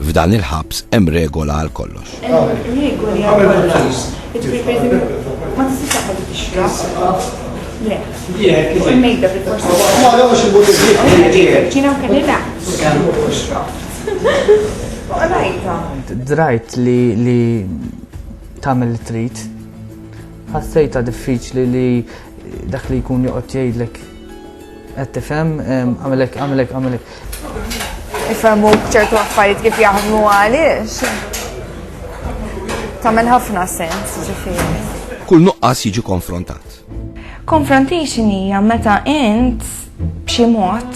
F'dan il-ħabs hemm regola għal kollox. Regoli għal kollox. Ma tistax taħħel tixrab. Le. Mejda fil-forsi. Ma għawx il-buttijiet. Ġina kellina. Drajt li tamil trit. Ħassejta diffiċli li dak li jkun joqgħod jgħidlek Qed tifhem, għamilek, għamilek, għamilek. Ifhmu ċertu affarijiet kif jaħdmu għaliex. Tagħmel ħafna sens, ġifieri. Kull nuqqas jiġi konfrontat. Confrontation hija meta int b'xi mod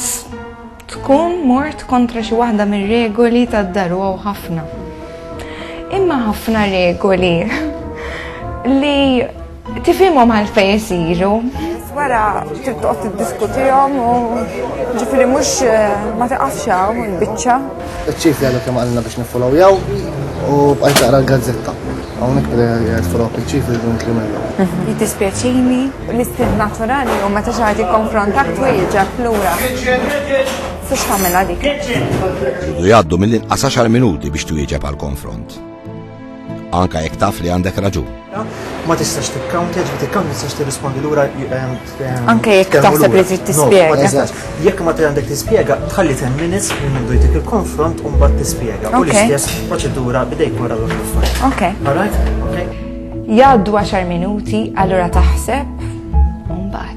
tkun mort kontra xi waħda mir-regoli tad-daru ħafna. Imma ħafna regoli li Tifhimhom għalfejn isiru. Wara trid toqgħod tiddiskutihom u ġifieri mhux eh, ma tiqafx hawn il-biċċa. Iċ-ċif jgħidu kemm għandna biex niffolowjaw u bqajt taqra l-gazzetta. Hawnhekk bdej jgħid follow iċ-ċif jridu nkrimellu. Mhm. Jitispjaċini l-istil naturali u meta xi ħadd jikkonfrontak twieġeb lura. Fiex tagħmilha dik. Jgħaddu mill-inqas 10 minuti biex twieġeb għall-konfront. Anka jekk taf li għandek raġun. Ma tistax tikkawntja, ġbi tikkawntja tistax tirrispondi lura. Ehm, ehm, Anka jekk taħseb li trid tispjega. Jekk ma għandek tispjega, tħalli 10 minutes minn mindu jtik il-konfront u mbagħad tispjega. U l-istess proċedura bidejk wara l-affarijiet. Ok. Alright? Ok. Jgħaddu 10 minuti, allura taħseb u mbagħad.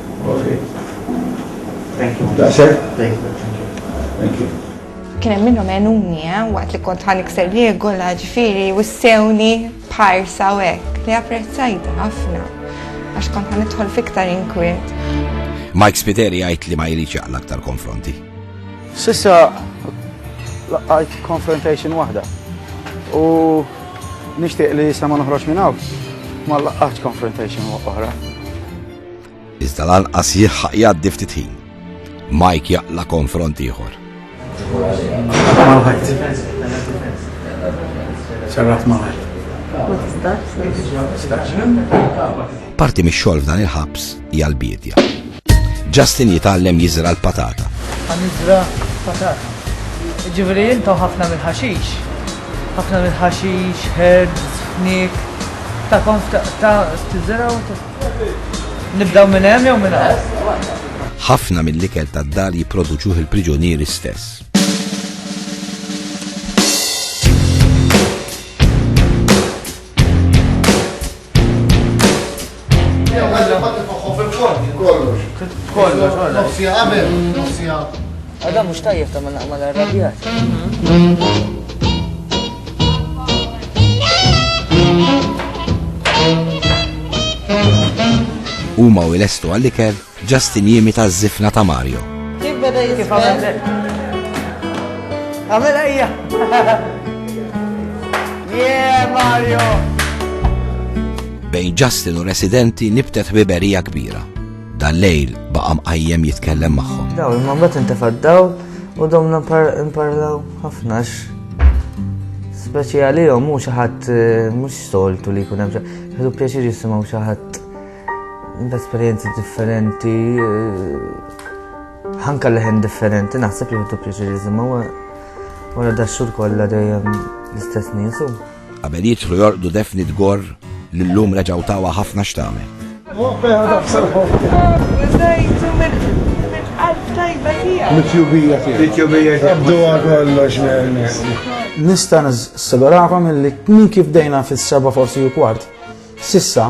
Kien hemm minnhom għenuni eh, waqt li kont ħan ikser regola ġifieri wissewni parsa u hekk li apprezzajta ħafna għax kont ħan idħol fiktar inkwiet. Mike Spiteri għajt li ma jridx jaqla aktar konfronti. Sissa laqajt confrontation waħda u nixtieq li jisna ma noħroġ minn hawn ma laqgħatx confrontation oħra. Iżda lanqas jilħaq jgħaddi ftit ħin. Mike jaqla konfront ieħor. Parti mix-xogħol f'dan il-ħabs hija l-biedja. Justin jitgħallem jiżra l-patata. Għanizra patata. Ġivri jintaw ħafna mill-ħaxix. ħafna mill-ħaxix, herbs, nik. Ta' konf ta' t-zera u Nibdew minn hemm jew minn hawn? Ħafna mill-ikel tad-dar jipproduċuh il-priġunieri stess. Kollox, kollox. Nofsija qabel, nofsija. Għada mhux tajjeb ta' ma naqma l-arrabjat. Huma u jlestu għall-ikel Justin Jimi ta' zifna ta' Mario. Kif beda jitfel? Għamil ejja! Yeah, Mario! Bejn Justin u residenti nibtet biberija kbira. Dal-lejl baqa' mqajjem jitkellem magħhom. Daw, imma mbagħad intefa' d-dawl u domna nparlaw ħafna speċi għalihom mhux xi ħadd eh, mhux soltu li jkun hemm ħadu pjaċir jisimgħu xi ħadd b'esperjenzi differenti eh, ħanka leħen differenti naħseb li ħadu pjaċir jisimgħu wara dax-xhur kollha dejjem l-istess niesu. Qabel jidħlu jorqdu Daphne Dgor li llum reġgħu tawha ħafna x'tagħmel. Nista' nissigurakom li minn kif bdejna fis-seba' forsi u kwart sissa